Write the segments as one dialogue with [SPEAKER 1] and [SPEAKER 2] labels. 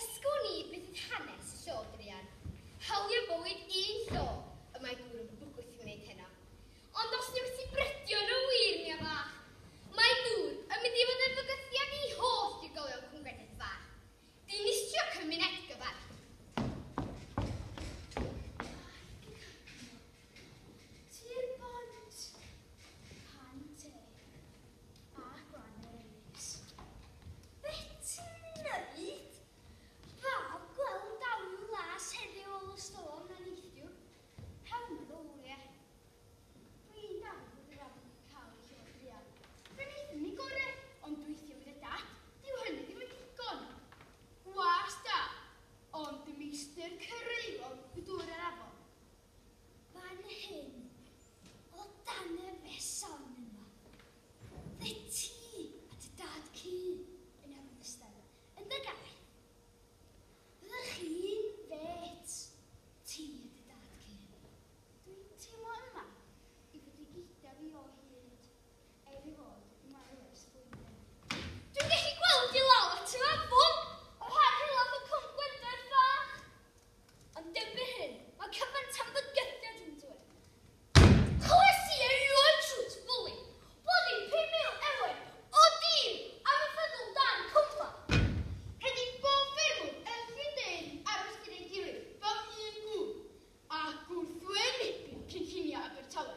[SPEAKER 1] Esgwn i beth oedd hanes y llo druan. Hawliau bywyd un llo y mae gŵr yn bwgwth i wneud heno. Ond os wnewch ti brydio yn y wir, Nia Fach, mae dŵr yn mynd i fod yn fygythiad i holl drigolion Cwm Gwenith Fach. Dinistrio cymuned gyfan. Tir bont, pan te. Bach o annerfus. Beth ti'n neud? Fab, gweld dalu las heddiw ôl y storm na neithiwr. Rhawn y fowliau. Dwi'n dallt bod yr afon wedi cael ei holl fuan. Fe wnaethon ni gorau, ond gweithio gyda Dad, dyw hynny ddim yn ddigon. Gwas da, ond y meistr cyrraeddodd y dŵr yr afon. Fan hyn, o dan y feson yma, fy ti a dy dad cu yn yr ogystal yn dy gae. Byddech chi'n fêt, ti a dy dad cu. Dwi'n teimlo yma i fod i gyda fi o hyd, er ei fod wedi marw ers blwyddyn. Dwi'n gallu gweld i lawr at yr afon, o rhan helaeth y cwm Gwendraeth Fach. Ond erbyn hyn, mae cymaint o fygythiad yn dweud Nid clywais i erioed shwt fwli bod i 5,000 eweg o dir am y ffyddl dan cwmpa. Rhaid i bob ffermwr yn fy ndeulu aros gyda'i gilydd fel un gŵr a gwrthwynebu'r cynlluniau Abertawe.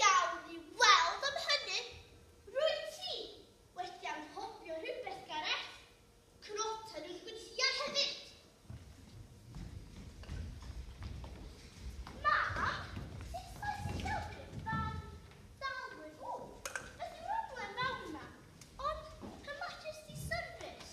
[SPEAKER 1] Gawn ni weld am hynny! Rwyt ti wedi anghofio rhywbeth, Gareth. Croton yn gweithiau hefyd! Mam, sut mae sillafu barn Dalwyn? O, beth yw'r broblem fawr yma? Ond, pan mater sy'n syrfus.